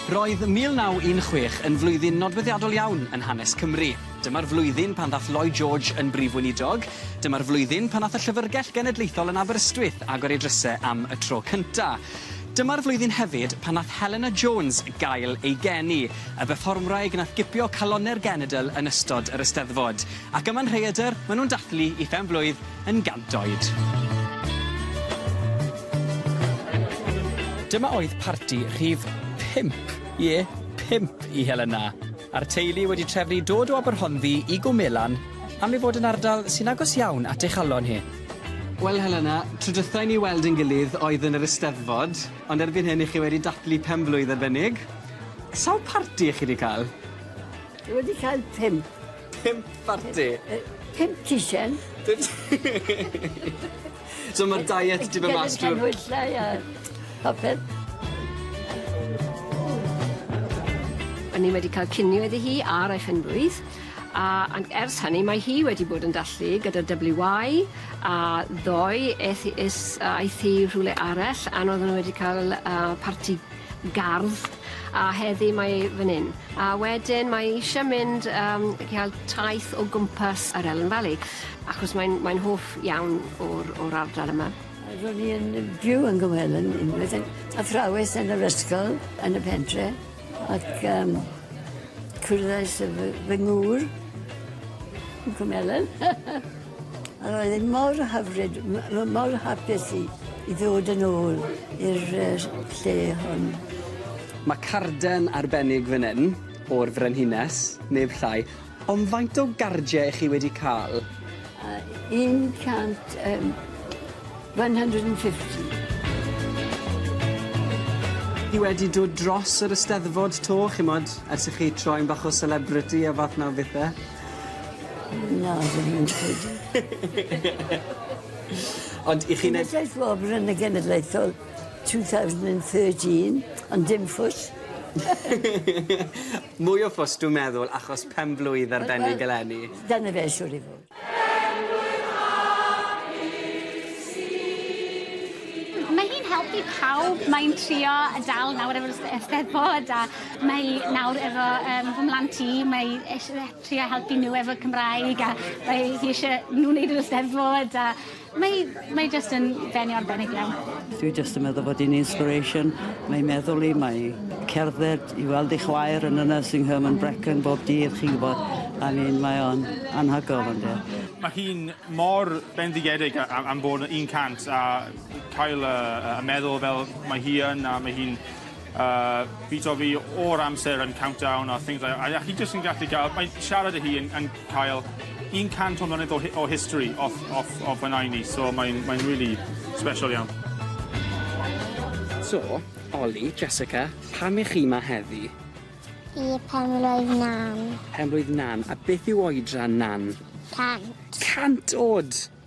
Roedd 1916 yn flwyddyn nodweddiadol iawn yn hanes Cymru. Dyma'r flwyddyn pan ddath Lloyd George yn Brif Weinidog. Dyma'r flwyddyn pan ddath y Llyfrgell Genedlaethol yn Aberystwyth agor ei drysau am y tro cynta. Dyma'r flwyddyn hefyd pan nath Helena Jones gael ei geni, y berfformwraig nath gipio calonnau'r genedl yn ystod yr Eisteddfod. Ac yma'n rhaeadr, maen nhw'n dathlu i phen-blwydd yn gant oed. Dyma oedd parti rhif pump, ie, pump i Helena, a'r teulu wedi trefnu dod o Aberhonddu i Gwm Elan am ei fod yn ardal sy'n agos iawn at ei chalon hi. Wel Helena, trydythau ni weld ein gilydd oedd yn yr Eisteddfod, ond erbyn hyn i chi wedi dathlu pen-blwydd arbennig. Sawl parti i chi wedi cael? Wedi cael pump. Pump parti? Yy pump cisen. Pump So ma'r diet 'di myn' mas trw'r... Genod canhwyllau a popeth. O'n i wedi ca'l cinio iddi hi ar ei phen-blwydd a an- ers hynny mae hi wedi bod yn dathlu gyda'r Double-you Y a ddoe eth i is- yy aeth hi rhywle arall a n- oedden nw wedi ca'l yy parti gardd a heddi mae e fan hyn. A wedyn mae e eisiau mynd um, cael taith o gwmpas yr Ellen Valley, achos mae'n mae hoff iawn o'r, or ardal yma. Ro'n i'n byw yn Gymwelyn unwaith, yn athrawes yn yr ysgol yn y pentre, ac um, cwrddais y fy, fy ngŵr yn Cwmelen. Yr oedd e mor hyfryd, m- m- mor hapus i i ddod yn ôl i'r yy lle hon. Mae carden arbennig fan hyn o'r Frenhines, neb llai, ond faint o gardie i chi wedi cael? A 100 yym 150. Chi wedi dod dros yr Eisteddfod 'to, chimod, ers i chi troi'n bach o celebrity a fath 'na o bethe? Na dwi ddim yn credu. Ond 'ych chi'n neud... Cenedlaeth wobr yn y genedlaethol two thousand and thirteen ond dim ffws. Mwy o ffws dwi'n meddwl achos pen-blwydd arbennig eleni. Dyna fe siŵr o fod. Pen-blwydd hapus i ti. Mae hi'n helpu pawb mae'n trio dal nawr efo'r 'Steddfod a Mae nawr efo yym fy mhlant i mae eisie fe trio helpu n'w efo Cymraeg a mae hi isie n'w neud yr Eisteddfod a mae mae jyst yn bennu arbennig iawn. Dwi jyst yn meddwl bod 'i'n inspiration mae 'i meddwl 'i mae 'i cerdded i weld ei chwaer yn y nursing home yn Brecon bob dydd chi'n gwbod I mean mae o'n anhygol on'd yw? Mae hi'n mor bendigedig a- a- am bod yn un cant a cael y y meddwl fel mae hi yn a mae hi'n A fi t'o' fi o'r amser yn countdown a things like that a a chi jyst yn gallu ga'l mae siarad â hi yn yn cael un cant o mlynedd o hi- o history off off o pan oen i so mae'n mae'n rili sbesial iawn. So, Oli, Jessica, pam 'ych chi 'ma heddi? I pen-blwydd Nan. Pen-blwydd Nan. A beth yw oedran Nan? Cant. Cant o'd!